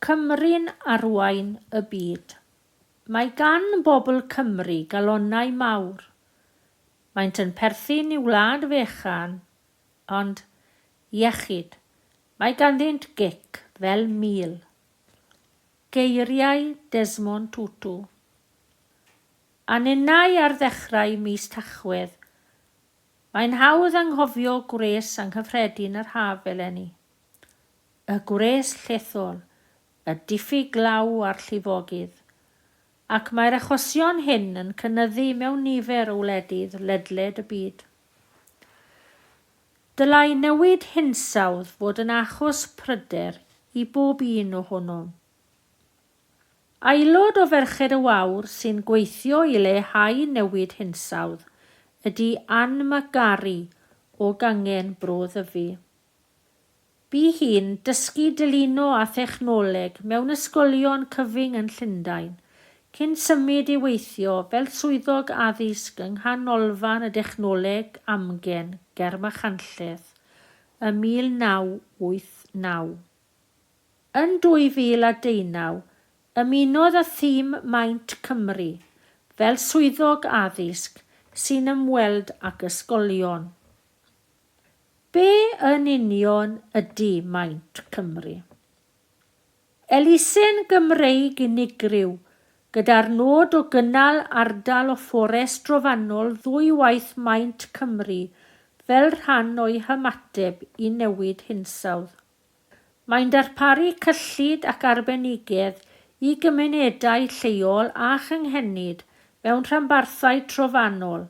Cymru'n arwain y byd. Mae gan bobl Cymru galonnau mawr. Maent yn perthyn i wlad fechan, ond, iechyd, mae ganddynt gic fel mil. Geiriau Desmond Tutu. A ninnau ar ddechrau mis Tachwedd. Mae'n hawdd anghofio gwres anghyffredin yr haf eleni. y gwres llethol, y diffyg glaw a'r llifogydd, ac mae'r achosion hyn yn cynyddu mewn nifer o wledydd ledled y byd. Dylai newid hinsawdd fod yn achos pryder i bob un ohonom. Aelod o Ferched y Wawr sy'n gweithio i leihau newid hinsawdd ydy Ann McGarry o Gangen Bro Ddyfi. Bu hi'n dysgu dylino a thechnoleg mewn ysgolion cyfyng yn Llundain, cyn symud i weithio fel swyddog addysg yng Nghanolfan y Dechnoleg Amgen ger Machynlleth ym 1989. Yn 2019, ymunodd â thîm Maint Cymru fel swyddog addysg sy'n ymweld ag ysgolion. Be yn union ydy Maint Cymru? Elusen Gymreig unigryw gyda'r nod o gynnal ardal o fforest drofannol ddwywaith Maint Cymru fel rhan o'i hymateb i newid hinsawdd. Mae'n darparu cyllid ac arbenigedd i gymunedau lleol a chynghenid mewn rhanbarthau trofannol,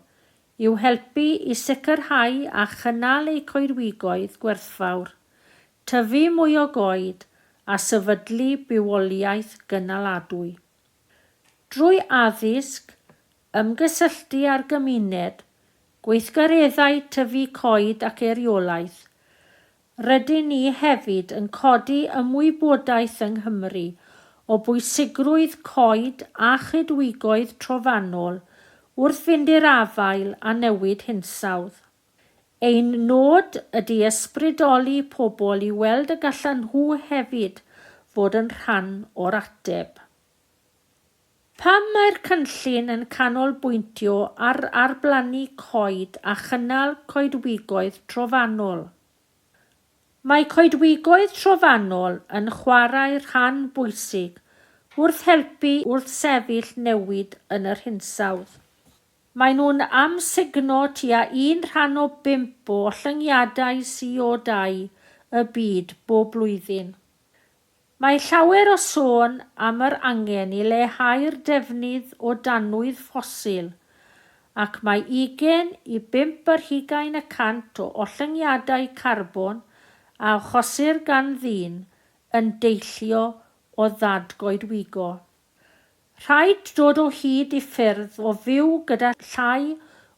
i'w helpu i sicrhau a chynnal eu coedwigoedd gwerthfawr, tyfu mwy o goed a sefydlu bywoliaeth gynaladwy. Drwy addysg, ymgysylltu â'r gymuned, gweithgareddau tyfu coed ac eiriolaeth, Rydyn ni hefyd yn codi ymwybodaeth yng Nghymru o bwysigrwydd coed a choedwigoedd trofannol wrth fynd i'r afael â newid hinsawdd. Ein nod ydy ysbrydoli pobl i weld y gallan nhw hefyd fod yn rhan o'r ateb. Pam mae'r cynllun yn canolbwyntio ar arblannu coed a chynnal coedwigoedd trofannol? Mae coedwigoedd trofannol yn chwarae rhan bwysig wrth helpu i wrthsefyll newid yn yr hinsawdd. Maen nhw'n amsugno tua un rhan o bump o ollyngiadau CO2 y byd bob blwyddyn. Mae llawer o sôn am yr angen i leihau'r defnydd o danwydd ffosil, ac mae ugain i bump ar hugain y cant o ollyngiadau carbon a achosir gan ddyn yn deillio o ddadgoedwigo. Rhaid dod o hyd i ffyrdd o fyw gyda llai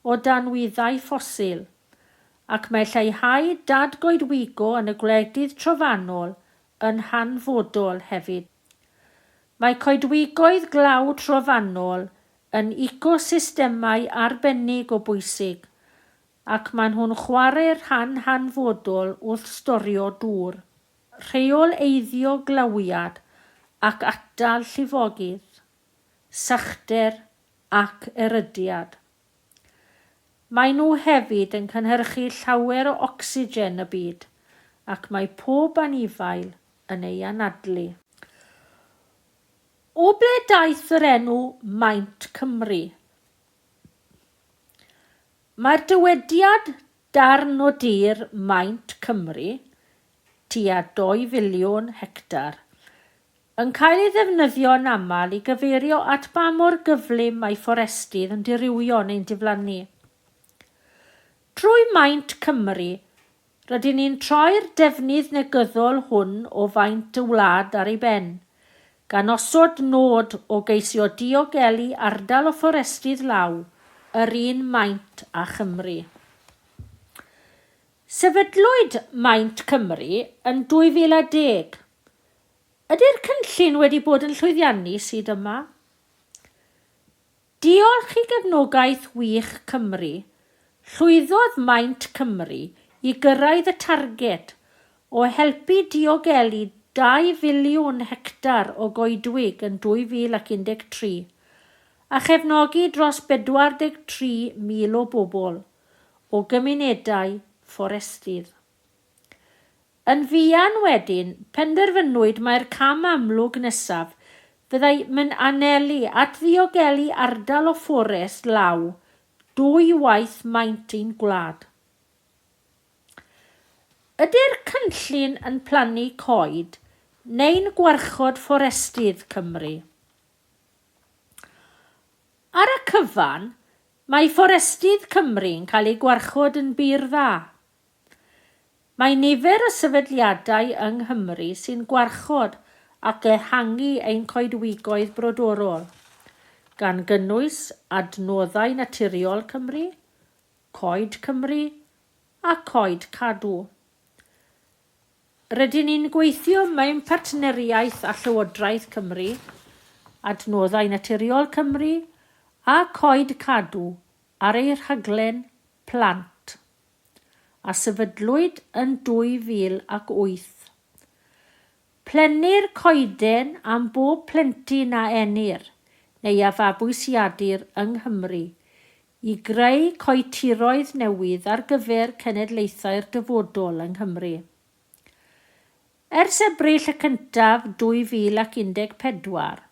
o danwyddau ffosil, ac mae lleihau dad-goedwigo yn y gwledydd trofannol yn hanfodol hefyd. Mae coedwigoedd glaw trofannol yn ecosystemau arbennig o bwysig, ac maen nhw'n chwarae rhan hanfodol wrth storio dŵr. Rheoleiddio glawiad ac atal llifogydd, sychder ac erydiad. Maen nhw hefyd yn cynhyrchu llawer o ocsigen y byd ac mae pob anifail yn ei anadlu. O ble daeth yr enw Maint Cymru? Mae'r dywediad Darn o dir maint Cymru, tua dou filiwn hectar, yn cael ei ddefnyddio yn aml i gyfeirio at ba mor gyflym mae fforestydd yn dirywio neu'n diflannu. Drwy maint Cymru, rydyn ni'n troi'r defnydd negyddol hwn o faint y wlad ar ei ben, gan osod nod o geisio diogelu ardal o fforestydd law yr un maint â Chymru. Sefydlwyd Maint Cymru yn 2010. Ydy'r cynllun wedi bod yn llwyddiannus hyd yma? Diolch i gefnogaeth wych Cymru, llwyddodd Maint Cymru i gyrraedd y targed o helpu diogelu dau filiwn hectar o goedwig yn 2013, a chefnogi dros 43,000 o bobl o gymunedau fforestydd. Yn fuan wedyn, penderfynwyd mai'r cam amlwg nesaf fyddai mynd anelu at ddiogelu ardal o fforest law dwy waith maint i'n gwlad. Ydy'r cynllun yn plannu coed neu'n gwarchod fforestydd Cymru? Ar y cyfan, mae fforestydd Cymru'n cael eu gwarchod yn bur dda. Mae nifer y sefydliadau yng Nghymru sy'n gwarchod ac ehangu ein coedwigoedd brodorol, gan gynnwys Adnoddau Naturiol Cymru, Coed Cymru a Coed Cadw. Rydyn ni'n gweithio mewn partneriaeth â Llywodraeth Cymru, Adnoddau Naturiol Cymru a Coed Cadw ar eu rhaglen plant. a sefydlwyd yn 2008. Plenir coeden am bob plentyn a enir, neu a fabwysiadir, yng Nghymru, i greu coetiroedd newydd ar gyfer cenedlaethau'r dyfodol yng Nghymru. Ers Ebrill y cyntaf 2014,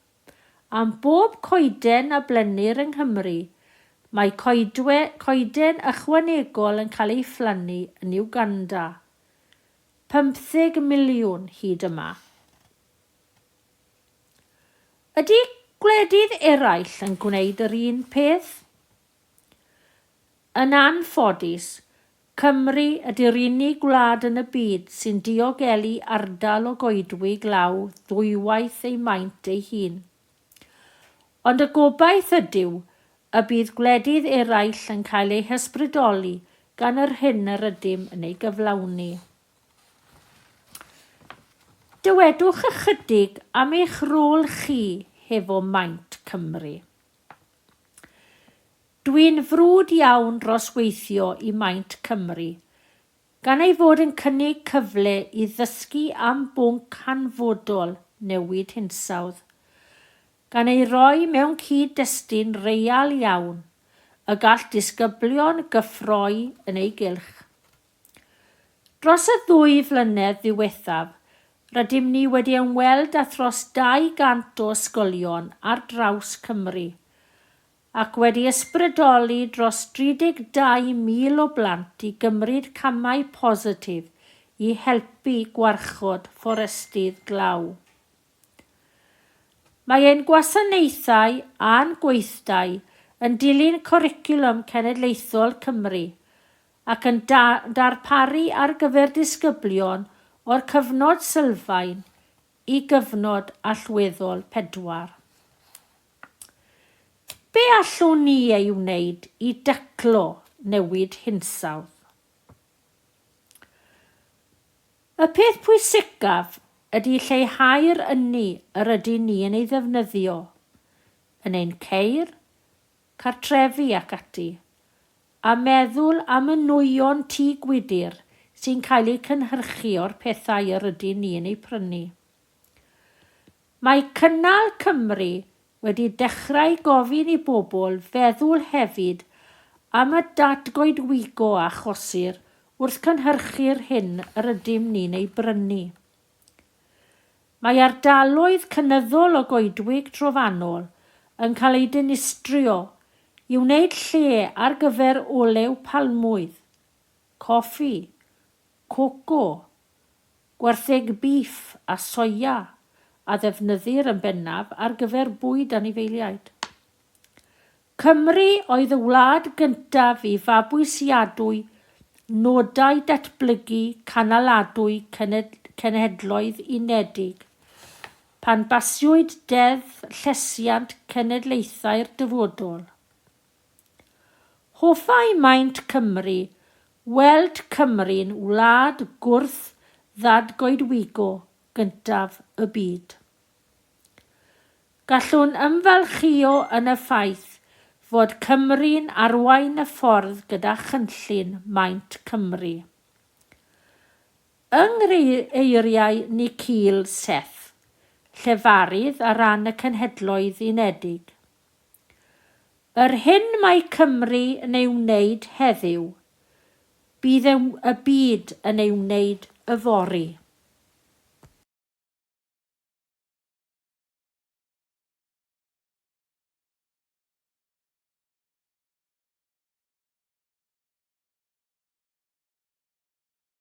Am bob coeden a blennir yng Nghymru, mae coedwe, coeden ychwanegol yn cael ei phlannu yn Uganda. Pymtheg miliwn hyd yma. Ydy gwledydd eraill yn gwneud yr un peth? Yn anffodus, Cymru ydy'r unig wlad yn y byd sy'n diogelu ardal o goedwig law ddwywaith ei maint ei hun. Ond y gobaith ydyw y bydd gwledydd eraill yn cael eu hysbrydoli gan yr hyn yr ydym yn ei gyflawni. Dywedwch ychydig am eich rôl chi hefo Maint Cymru. Dwi'n frwd iawn dros weithio i Maint Cymru, gan ei fod yn cynnig cyfle i ddysgu am bwnc hanfodol newid hinsawdd, gan ei roi mewn cyd-destun real iawn y gall disgyblion gyffroi yn ei gylch. Dros y ddwy flynedd ddiwethaf, rydym ni wedi ymweld â thros 200 o ysgolion ar draws Cymru, ac wedi ysbrydoli dros 32,000 o blant i gymryd camau positif i helpu gwarchod fforestydd glaw. Mae ein gwasanaethau a'n gweithdai yn dilyn Cwricwlwm Cenedlaethol Cymru ac yn darparu ar gyfer disgyblion o'r cyfnod sylfaen i gyfnod allweddol pedwar. Be allwn ni ei wneud i daclo newid hinsawdd? Y peth pwysicaf ydy lleihau'r ynni yr ydyn ni yn ei ddefnyddio yn ein ceir, cartrefi ac ati, a meddwl am y nwyon tŷ gwydr sy'n cael eu cynhyrchu o'r pethau yr ydyn ni yn eu prynu. Mae Cynnal Cymru wedi dechrau gofyn i bobl feddwl hefyd am y datgoedwigo a achosir wrth cynhyrchu'r hyn yr ydym ni'n ei brynu. Mae ardaloedd cynyddol o goedwig trofannol yn cael eu dinistrio i wneud lle ar gyfer olew palmwydd, coffi, coco, Gwartheg bîff a soia a ddefnyddir yn bennaf ar gyfer bwyd anifeiliaid. Cymru oedd y wlad gyntaf i fabwysiadwy nodau datblygu canaladwy Cenhedloedd Unedig, pan basiwyd Deddf Llesiant Cenedlaethau'r Dyfodol. Hoffai maint Cymru weld Cymru'n wlad gwrth ddadgoedwigo gyntaf y byd. Gallwn ymfalchïo yn y ffaith fod Cymru'n arwain y ffordd gyda chynllun maint Cymru. Yng nghyfeiriau Nikhil Seth, llefarydd ar ran y Cenhedloedd Unedig, Yr hyn mae Cymru yn ei wneud heddiw, bydd y y byd yn ei wneud yfory.